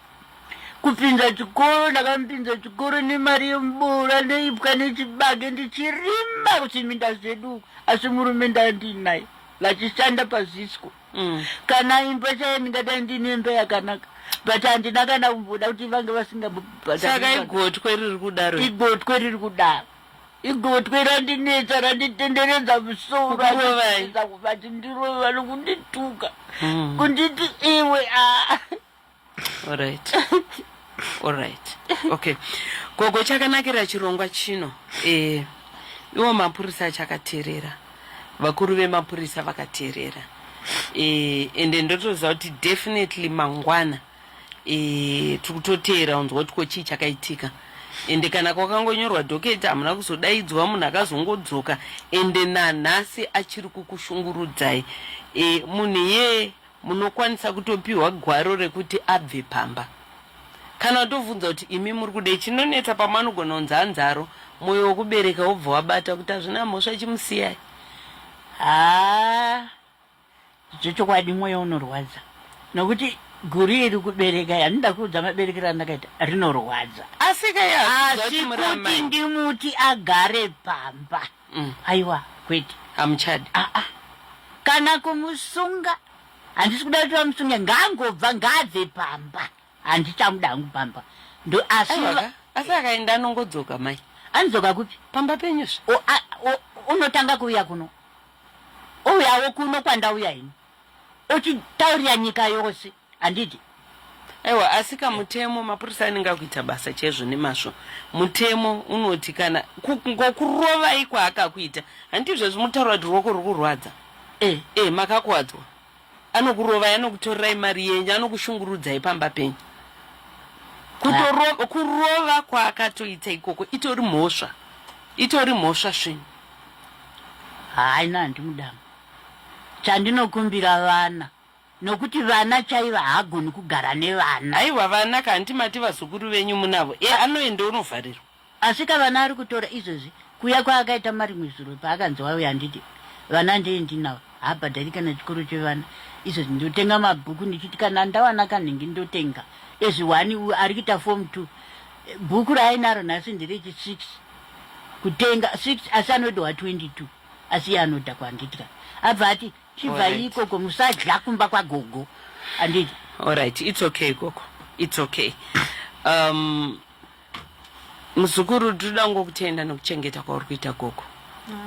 S2: kupinza chikoro ndakamupinza chikoro nemari yemubura neipwa nechibage ndichirima kuchiminda zvedu asi murume ndandiinaye vachishanda pazisco mm. kana imba chaye ndingadai ndiine imba yakanaka but handina kana kumboda kuti vange vasingabsaka igotwe
S1: riri kudaro igotwe riri kudaro
S2: igotwe randinetsa randitenderedza musoro achiedza kuvati ndirove vano kundituka mm. kunditi iwe ah. alright
S1: alright okay gogo chakanakira chirongwa chino eh, iwo mapurisa achakateerera vakuru vemapurisa vakateerera eh, ende ndotoziva kuti definitely mangwana mm. e, tiri kutoteera unzwa kuti ko chii chakaitika ende kana kwakangonyorwa doketi hamuna kuzodaidzwa munhu akazongodzoka ende nanhasi achiri kukushungurudzai e, munhu iyeye munokwanisa kutopiwa gwaro rekuti abve pamba kana utovunza kuti imi muri kudei chinonetsa pamwe anogona kunzi hanzaro mwoyo wokubereka wobva wabata kuti hazvina mhosva chimusiyai haa
S2: Zvechokwadi mwoyo unorwadza nokuti guri iri kubereka yandida kuudza maberekero andakaita rinorwadza asi
S1: kuti
S2: ndimuti agare pamba mm. aiwa kwete hamuchadi aa ah,
S1: ah.
S2: kana kumusunga handisi kuda kuti vamusunge ngaangobva ngaabve pamba handichamuda hangu pamba ndo asi asi akaenda
S1: anongodzoka mai anodzoka kupi
S2: pamba penyuzve unotanga kuuya kuno Ouyawo kuno kwandauya ini ochitaurira nyika yose handiti ewa
S1: asika mutemo mapurisa anenge akuita basa chaizvo nemazvo mutemo unoti kana ngokurovai kwaakakuita handiti izvezvi mutaura kuti ruoko ruri kurwadza e, e, makakuwadzwa anokurovai anokutorerai mari yenyu anokushungurudzai pamba penyu kutorova kurova kwaakatoita ikoko itori mhosva itori mhosva svinu
S2: haina handimudama chandinokumbira vana nokuti vana chaiva haagoni kugara nevana aiwa vana ka
S1: handimati vazukuru venyu munavo e anoenda unovharirwa Asika vana ari
S2: kutora izvozvi kuya kwaakaita marimwe zuro paakanzi wauya handidi vana ndee ndinawo haabhadhari kana chikoro chevana izvozvi ndotenga mabhuku ndichiti kana ndawana kanhingi ndotenga ezvi one uyu ari kuita form two bhuku raainaro nhasi nderechi six kutenga six asi anodohwa 22 asi iye anodhakwa handiti ka abva ati chibvai ikoko musadya kumba kwagogo handiti allright its
S1: okay ikoko its okay um, Muzukuru tinoda ngo kutenda nokuchengeta kwauri kuita gogo.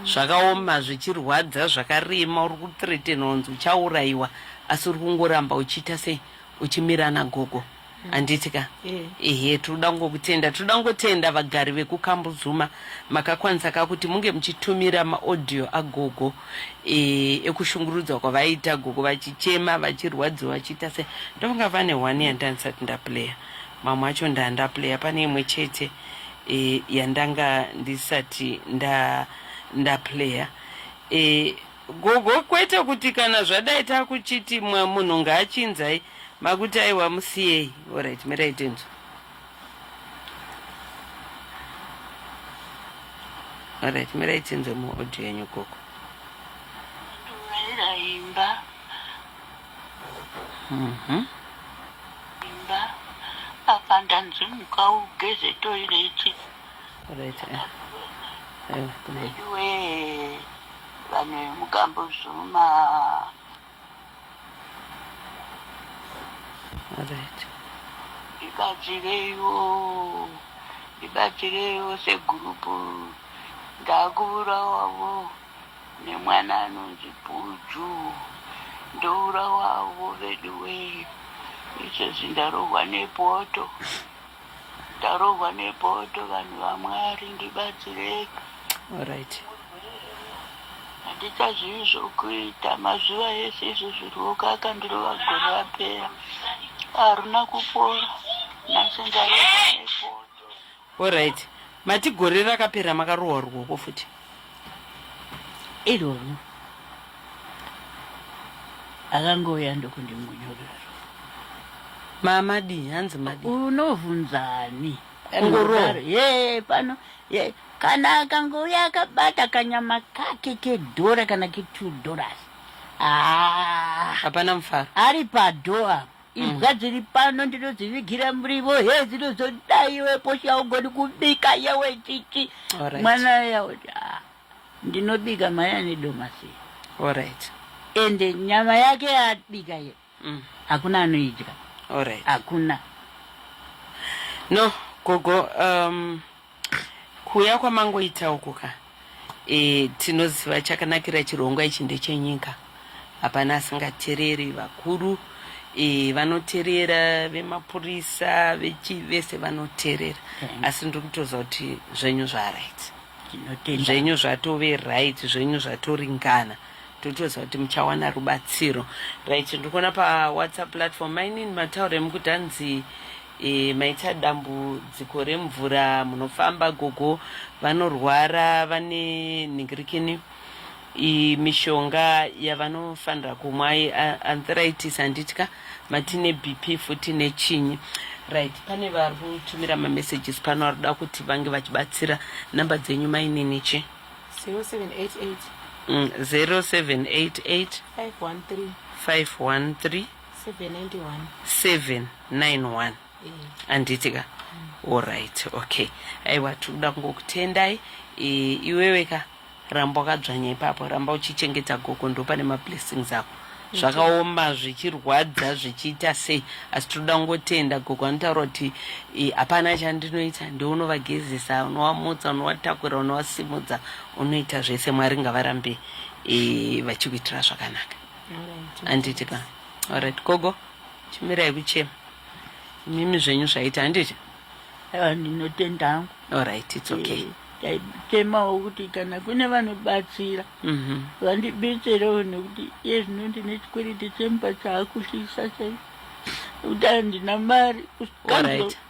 S1: Zvakaoma zvichirwadza zvakarema uri kuthreatenwa unzi uchaurayiwa asi uri kungoramba uchiita sei uchimira ana gogo. Handiti ka? Eh. Ehe tinoda ngokutenda tinoda ngotenda vagari vekukambuzuma makakwanisa ka kuti munge muchitumira maaudio agogo eh, ekushungurudzwa kwavaita gogo vachichema vachirwadziwa vachiita sei ndofunga vane one yandandisati ndaplayer Mamwe acho ndanda player pane imwe chete e, yandanga ndisati nda nda player e, gogo kwete kuti kana zvadai takuchiti mwa munhu ngaachinzai makuti aiwa musiyei orit mirai tinzwa orit mirai tinzwe muaudio yenyu gogo
S4: Mhm. imba apa ndanzi muka ugeze toireti Right. eh.
S1: Eh, kudai. veduwe
S4: vanhu vemugambo zvuma
S1: Right. ibatsireiwo
S4: ibatsireiwo segurupu ndakuvurawawo nemwana anonzi Bhuju ndoura wavo veduwee izvezvi ndarohwa nepoto ndarohwa nepoto vanhu vamwari ndibatsirei Alright. handichazivi zvokuita mazuva ese izvi zvirwoko akandirova gore rapera haruna kupora nhasi ndarohwa nepoto Horaiti
S1: mati gore rakapera makarohwa ruoko futi
S2: iroro akangouya ndokundimunyurira mama
S1: dii hanzi madi unovhunzani
S2: Kungorohwa.
S1: ye pano
S2: ye kana akangouya akabata kanyama kake kedhora kana ketwo dollars Ah,
S1: hapana mufaro ari padhoo
S2: apa imbwa dziri pano ndinodzivigira murivo he dzinozoda iwe posha ugoni kubika yewe chichi mwana
S1: yaoti
S2: ah, ndinobika maya nedomasi orit
S1: ende
S2: nyama yake yabika ye mm. hakuna anoidya hakuna
S1: no gogo um, Kuuya kwamangoita uku ka e, tinoziva chakanakira chirongwa ichi ndechenyika. Hapana asingatereri vakuru e, vanoterera vemapurisa vechi vese vanoterera mm. asi ndiri kutoziva kuti zvenyu zvaright zvenyu zvatove right zvenyu zvatoringana totoziva kuti muchawana rubatsiro right ndikuona pawhatsapp platform mainini mataura emukuti hanzi E, maita dambudziko remvura munofamba gogo vanorwara vane nhingirikini mishonga yavanofanira kumwa arthritis handitya matine bp futi nechinyi right pane vari kutumira mamessages pano vari kuda kuti vange vachibatsira namba dzenyu mainini chi 0788 513 513 791 handiti ka allright okay aiwa tiri kuda kungokutendai e, iwewe ka ramba wakadzvanya ipapo ramba uchichengeta gogo ndopane mablessings ako zvakaoma zvichirwadza zvichiita sei asi tinoda kungotenda gogo anotaura kuti e, hapana chandinoita ndounovagezesa unovamutsa unovatakura unovasimudza unoita zvese mwari ngavarambe e, vachikuitira zvakanaka handiti ka orit gogo chimirai kuchema mimi zvenyu zvaita handiti aiwa ndinotenda
S2: hangu orit its okay
S1: eh, taichemawo
S2: kuti kana kune vanobatsira mhm. vandibetserewo nekuti iye zvino ndine chikwereti chemba chaakushisa chai kuti handina mari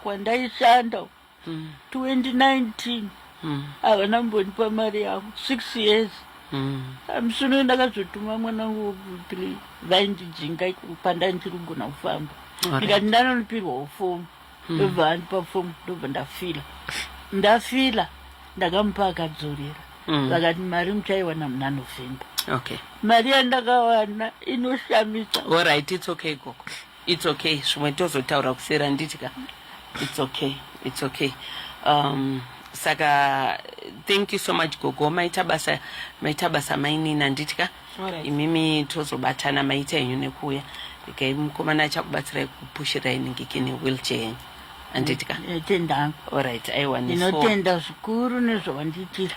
S2: kwandaishanda 2019 mm. havana mm. mbondipa mari yavo six years mm. amusino um, ndakazotuma mwana wangu wekuthree vaindijinga pandandirigona kufamba ndikati ndanonipirwawo fomu mm. ndobva andipa fomu ndobva ndafila ndafila ndakamupa akadzorera mm. vakati mari muchaiwana muna november
S1: okay. mari
S2: yandakawana inoshamisa orit it's okay
S1: gogo It's okay. Zvimwe tozotaura kuseri handiti ka? It's okay. It's okay. Um, saka thank you so much gogo maita basa maita basa mainini handiti ka? Alright. Imimi
S3: tozobatana
S1: maita henyu nekuuya. Ikai mukomana achakubatsirai kupushirai ningiki newheelchair yenyu. Handiti ka? Tendanga.
S2: Alright, aiwa neso.
S1: Ndinotenda zvikuru
S2: nezvawandiitira.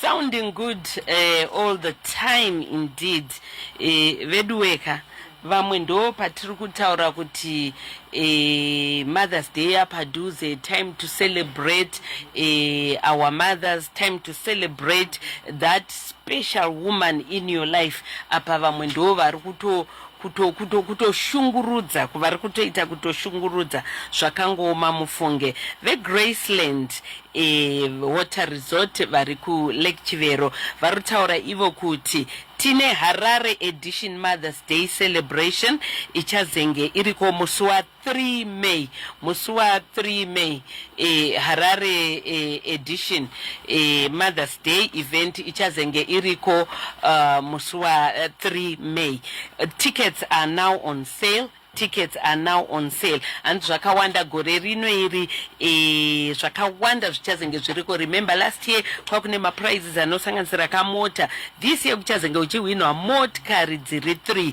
S1: sounding good uh, all the time indeed uh, veduweka vamwe ndo patiri kutaura kuti uh, mothers day apadhuze time to celebrate uh, our mothers time to celebrate that special woman in your life apa vamwe ndo vari kuto kuto kuto kutoshungurudza kuvari kutoita kutoshungurudza zvakangooma mufunge vegraceland e, water resort vari kulake chivero vari kutaura ivo kuti tine harare edition mothers day celebration ichazenge iriko musi wa 3 May musi wa 3 May eh, Harare eh, edition eh, Mother's Day event ichazenge iriko uh, musi wa 3 eh, May. Uh, tickets are now on sale tickets are now on sale and zvakawanda gore rino iri e, zvakawanda zvichazenge zviriko remember last year kwakune maprizes anosanganisira kamota this year kuchazenge uchihwinwa motkari dziri 3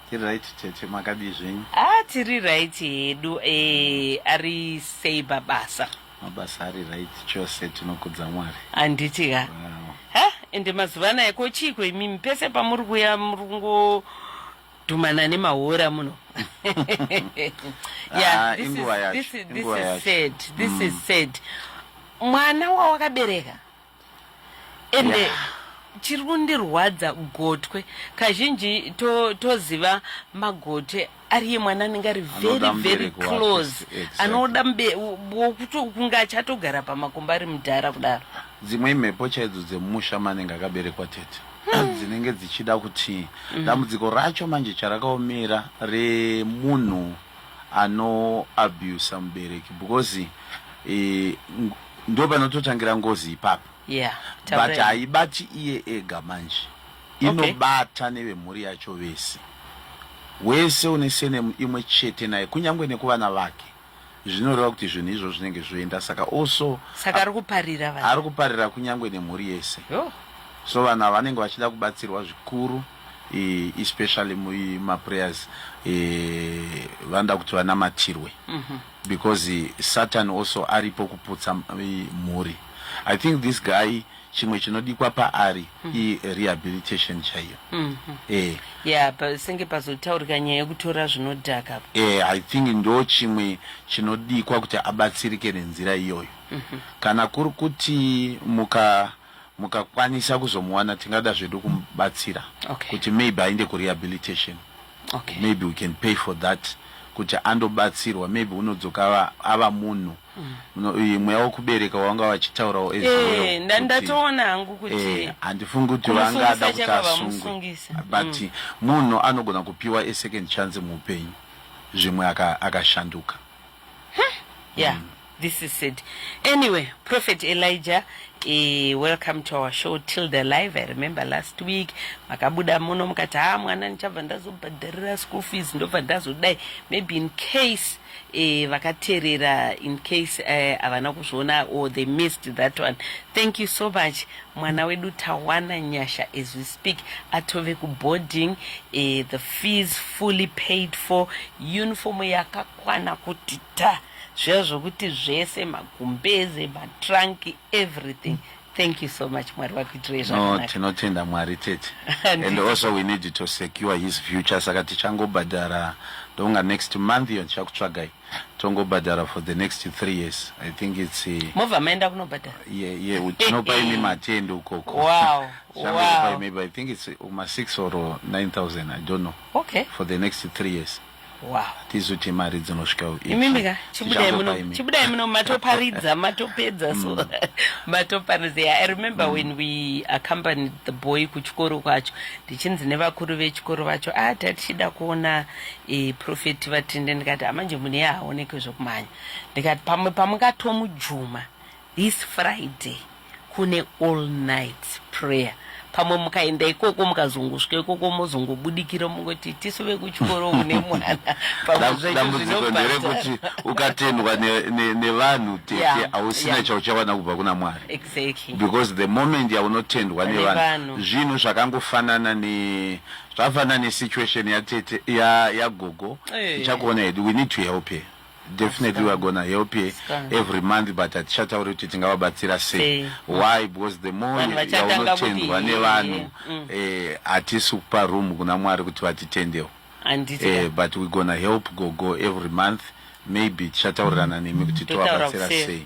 S1: Tiri right tete
S5: makadii zvenyu? Ah tiri right
S1: hedu eh ari sei babasa? Mabasa ari
S5: right chose tinokudza Mwari. Handiti ka? Wow.
S1: Ha ende mazuva anaya ko chiiko imimi pese pamuri kuya muri kungo dhumana nemahora muno. Ah, this inguva is yacho, this is this inguva is yacho. sad. This is sad. Mwana wawakabereka ende yeah. chiri kundirwadza gotwe kazhinji toziva to magotwe ariye mwana anenge ari very very close anoda kunge achatogara pamakumba ari mudhara kudaro dzimwe imhepo
S5: chaidzo dzemusha manenge akaberekwa tete hmm. dzinenge dzichida kuti hmm. dambudziko racho manje charakaomera remunhu anoabusa mubereki because eh, ndo panototangira ngozi ipapo yeah, but
S1: haibati
S5: iye ega manje inobata okay. nevemhuri yacho vese wese une senemu imwe chete naye kunyange nekuvana vake zvinoreva kuti zvinhu izvo zvinenge zvoenda saka also saka ari kuparira
S1: vana ari kuparira kunyange nemhuri
S5: yese oh. so vanhu ava vanenge vachida kubatsirwa zvikuru e, especially mumaprayers e, vanoda kuti vanamatirwe mm -hmm. because satan also aripo kuputsa mhuri i think this guy chimwe chinodikwa paari mm. irehabilitation chaiyo mm -hmm. eh. yeah,
S1: pasenge pazotaurika nyaya yekutora zvinodhaka eh, i think
S5: ndo chimwe chinodikwa kuti abatsirike nenzira iyoyo mm -hmm. kana kuri kuti muka mukakwanisa kuzomuwana tingada zvedu kumubatsira okay. kuti maybe ainde kurehabilitation okay. maybe we can pay for that kuti andobatsirwa maybe unodzoka ava munhu mm. mweya wokubereka wanga vachitaurawo eh, ndandatoona
S1: hangu kuti eh, handifungi kuti
S5: vangada kuti asungwe but mm. munhu anogona kupiwa esecond chance muupenyu zvimwe akashanduka aka huh?
S1: yeah mm. this is it anyway prophet elijah Eh, welcome to our show till the live i remember last week makabuda muno mukati ha ah, mwana ndichabva ndazobhadharira school fees ndobva ndazodai maybe in case eh, vakaterera in case eh, havana eh, kuzviona or they missed that one thank you so much mwana wedu tawana nyasha as we speak atove kuboarding uh, the fees fully paid for uniform yakakwana kuti ta zviya zvokuti zvese magumbeze matrunk everything thank you so much mwari vakuitirei zvakanaka tinotenda mwari
S5: tete and also we need to secure his future saka tichangobhadhara ndonga next month iyo ndichakutsvagai tongobhadhara for the next three years i think its eh, mobva maenda kunobhadhara
S1: ye ye tinopa
S5: imi matende ukoko wow wow
S1: maybe
S5: i think its uma 6 or 9000 i don't know okay for the next
S1: three years
S5: wow tizote
S1: mari
S5: dzinosvika imimi ka chibudai
S1: muno chibudai muno matoparidza matopedza so mm. matoparidza yeah, i remember mm. when we accompanied the boy kuchikoro kwacho ndichinzi nevakuru vechikoro vacho ah tatichida kuona e, profeti vatinde ndikati amanje mune yaaonekwe zvokumhanya ndikati pamwe pamungatomujuma this friday kune all night prayer pamwe mukaenda ikoko mukazongosvika ikoko mozongobudikira mungoti tisu vekuchikoro une mwana dambudziko
S5: nderekuti ukatendwa nevanhu tete hausina chauchawana kubva kuna mwari because
S1: the moment
S5: yaunotendwa nevanhu zvinhu zvakangofanana ne Zvafana ne situation ya tete ya ya gogo hey. Tichakuona hedu we need to help her definitely we're gonna help you every month but hatichatauri kuti tingavabatsira sei why because the more yaunotendwa nevanhu mm. eh, hatisi kupa room kuna mwari kuti vatitendewo eh, but we're gonna help gogo every month maybe tichataurirana nemi kuti tovabatsira sei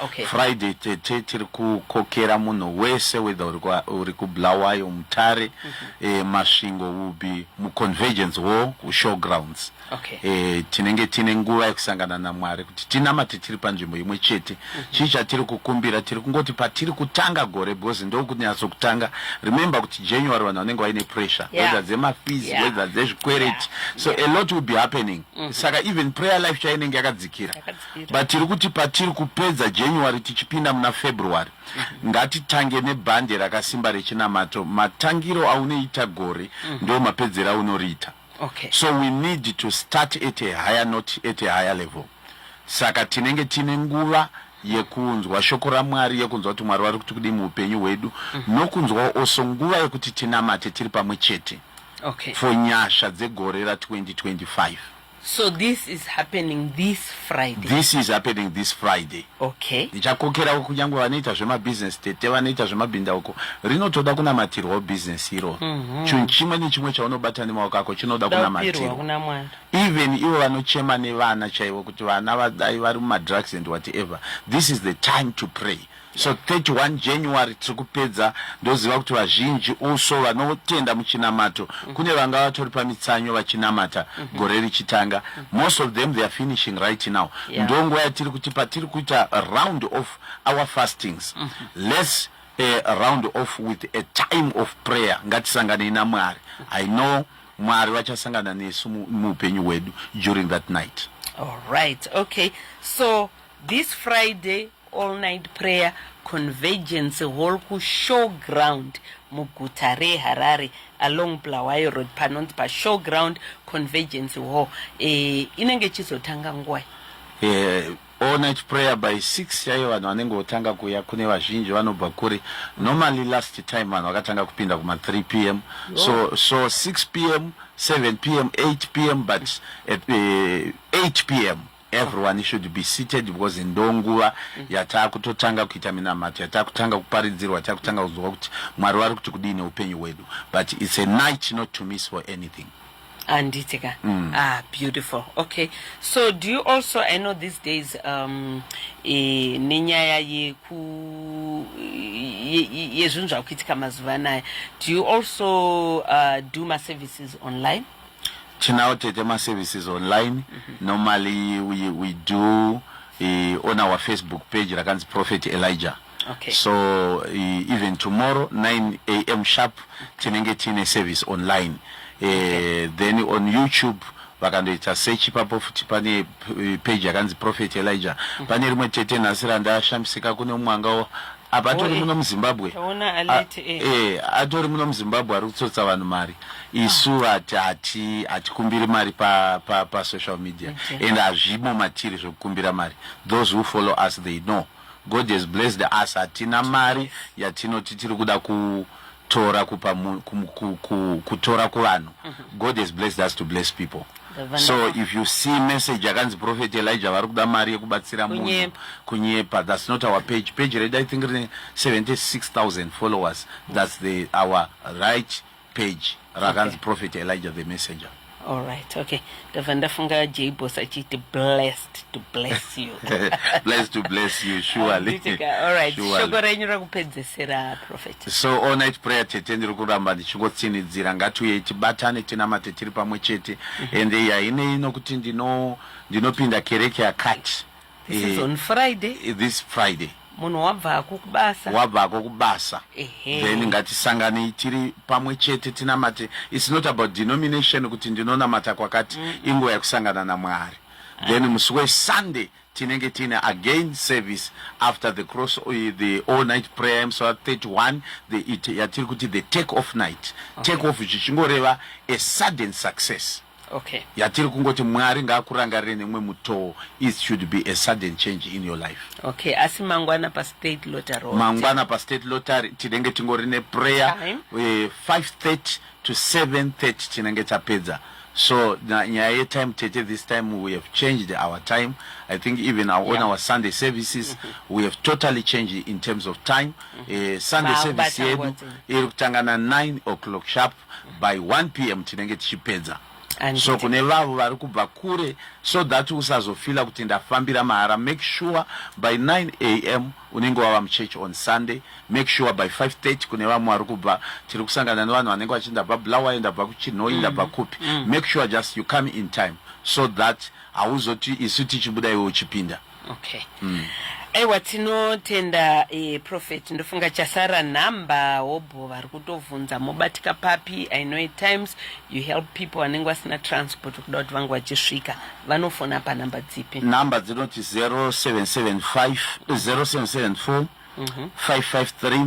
S5: Okay. Friday
S1: tete
S5: tiri kukokera munhu wese whether uri kwa- uri kuBulawayo, Mutare, eh, Masvingo will be muConvergence Hall kuShowgrounds. Okay. Eh,
S1: tinenge tine nguva
S5: yekusangana naMwari kuti tinamate tiri panzvimbo imwe chete. Chii chatiri kukumbira tiri kungoti patiri kutanga gore because ndokunyatso kutanga. Remember kuti January vanhu vanenge vaine pressure Yeah. whether dzemafees Yeah. whether dzezvikwereti. So a lot will be happening. Saka even prayer life chayo inenge yakadzikira. Yakadzikira. but tiri kuti patiri kupedza january tichipinda muna february ngatitange nebhande rakasimba rechinamato matangiro aunoita gore mm. ndo mapedzero aunoriita okay. so we
S1: need to
S5: start at a higher not at a higher level saka tinenge tine nguva yekunzwa shoko ramwari yekunzwa kuti mwari vari kuti kudii muupenyu hwedu mm. nokunzwawo also nguva yekuti tinamate tiri pamwe chete okay. for
S1: nyasha
S5: dzegore ra 2025 So this
S1: is happening this Friday. This is happening this
S5: Friday. Okay. Ndichakokera
S1: uko kunyangwe
S5: vanoita zvema business tete vanoita zvema binda uko. Rinotoda kunamatirwa business iro. Mm -hmm. Chinhu chimwe nechimwe chaunobata nemaoko ako chinoda kunamatirwa. Kuna mwana. Even ivo vanochema nevana chaivo kuti vana vadai vari muma drugs and whatever. This is the time to pray. So 31 January tiri kupedza ndoziva kuti vazhinji also vanotenda muchinamato kune vanga vatori pamitsanyo vachinamata gore richitanga most of them they are finishing right now Yeah. ndo nguva yatiri kuti patiri kuita round off our fastings let's eh, round off with a time of prayer ngatisanganei namwari i know mwari vachasangana nesu mu- muupenyu hwedu during that night All right,
S1: okay. So This Friday all night prayer Convergence Hall ku Showground muguta reHarare along Bulawayo Road panonzi pa Showground Convergence Hall. Eh, inenge ichizotanga nguvai? Eh,
S5: all night prayer by 6 chaiyo vanhu vanenge votanga kuya kune vazhinji vanobva kure normally last time vanhu vakatanga kupinda kuma 3 pm so, so 6 pm 7 pm 8 pm but at eh, 8 pm Everyone should be seated because ndonguva yatakutotanga kuita minamato yatakutanga kuparidzirwa yatakutanga kuzwa kuti Mwari vari kuti kudii neupenyu hwedu but it's a night not to miss for anything handiti ka
S1: mm. ah, beautiful okay so do you also i know these days um, e, nenyaya yeku yezvinhu zvakuitika mazuva anaya do you also uh, do maservices online tinawo
S5: tete maservices online mm -hmm. normally we, we do uh, on our facebook page rakanzi prophet elijah okay. so
S1: uh,
S5: even tomorrow 9 am sharp tinenge tiine service online uh, okay. then on youtube vakandoita sechi papo futi pane page yakanzi prophet elijah mm -hmm. pane rimwe tete nhasi randashamisika kune umwe anga apa atori muno muzimbabwe atori muno muzimbabwe ari kutsotsa vanhu mari isu vati hati hatikumbiri mari pasocial media and hazvimo matiri zvekukumbira mari those who follow us they know god has blessed us hatina mari yatinoti tiri kuda ku kutora kupa kutora kuvanhu mhm. god has blessed us to bless people so if you see message yakanzi prophet elijah vari kuda mari yekubatsira munhu kunyepa thats not our page page redu i think rine 76000 followers thats the our right page rakanzi prophet elijah the messenger All right, okay.
S1: Ndabva ndafunga J Boss achiti blessed to bless
S5: you. blessed to bless you, surely. All right,
S1: shoko renyu rakupedzesera prophet. So all night prayer
S5: tete ndiri kuramba ndichingotsinhidzira ngatiuye tibatane tinamate tiri pamwe chete mm-hmm. ende yaine inokuti ndino ndinopinda kereke yakati This is on
S1: Friday. Eh, this Friday.
S5: Munhu wabvako
S1: kubasa. Wabvako kubasa.
S5: Then ngatisangane tiri pamwe chete tinamate. It's not about denomination kuti ndinonamata kwakati mm. inguva yekusangana naMwari. Ah. Then musi weSunday tinenge tine again service after the cross eh, the all night prayer so 31 the it yatiri kuti the take off night. Okay. Take off zvichingoreva a sudden success. okay. yatiri
S1: kungoti
S5: mwari ngaakurangarire nemwe mutoo is should be a sudden change in your life okay asi mangwana
S1: pastate lotary mangwana pastate
S5: lotary tinenge tingori neprayer uh, eh, 530 to 730 tinenge tapedza so nyaya yetime tete this time we have changed our time i think even our, yeah. on our sunday services mm -hmm. we have totally changed in terms of time mm -hmm. uh, sunday service yedu iri kutanga na 9 o'clock sharp by 1 pm tinenge tichipedza so kune vavo vari kubva kure so that usazofila kuti ndafambira mahara make sure by 9 am unenge wava muchechi on sunday make sure by 530 kune vamwe vari kubva tiri kusangana nevanhu vanenge vachi ndabva bulawayo ndabva kuchinhoyi mm. ndabva kupi mm. make sure just you come in time so that hauzoti isu tichibuda iwe uchipinda okay
S1: mm. aiwa tinotenda eh, prophet ndofunga chasara nhamba hobho vari kutovhunza mobatika papi i know at times you help people vanenge vasina transport kuda kuti vange vachisvika vanofona panhamba dzipi nhamba dzinoti 0775 0774
S5: 553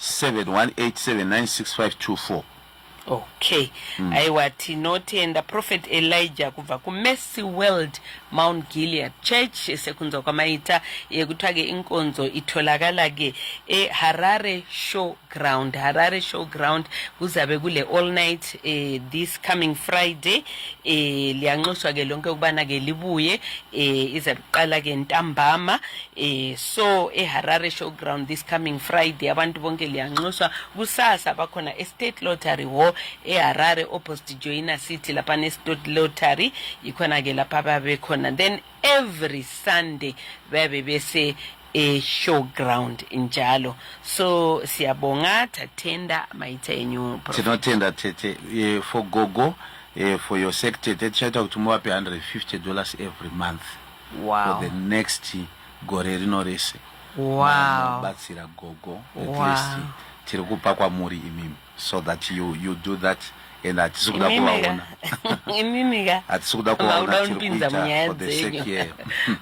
S5: 718796524 okay
S1: mm. aiwa tinotenda prophet elijah kubva kumercy world mount gilead church sekunzwa kwamaita yekutsvake inkonzo itolakalake eharare show ground harare show ground kuzabe kule all night eh, this coming friday eh, liyanxuswa ke lonke ukubana ke libuye eh, izabe kuqala ke ntambama Eh, so eharare showground this coming friday abantu bonke liyanxuswa kusasa bakhona estate lottery hall eharare opposite joina city lapha nestate lottery yikhona ke lapha babekhona then every sunday babe bese eshowground njalo so siyabonga thathenda mayitha yenyu tinotenda tete
S5: eh, for gogo eh, for your sector tete chaita kuti muvape 150 dollars every month wow. for the
S1: next
S5: gore rino rese vanobatsira
S1: wow. gogo
S5: at wow. least tiri kupa kwamuri imimi so that you, you do that and hatisi kuda kuvaona
S1: hatisi kuda kuvaona
S5: tiri kuita for the
S1: sake
S5: yeyo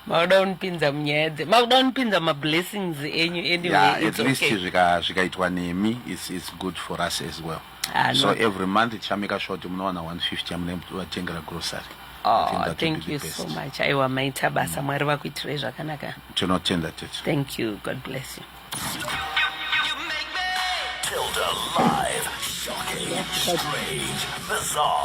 S1: makuda
S5: kunipinza
S1: munyaya dze makuda kunipinza mablessings enyu anyway yeah, at least okay.
S5: zvikaitwa nemi it's, it's good for us as well Ah, so no. every month tichameka sure kuti munowana 150 yamunevatengera grocery Oh, thank
S1: you so much aiwa maita basa mm. mwari vakuitirai zvakanaka tinotenda tete
S5: thank you god bless
S1: you
S6: Tilda live, shocking, strange, bizarre.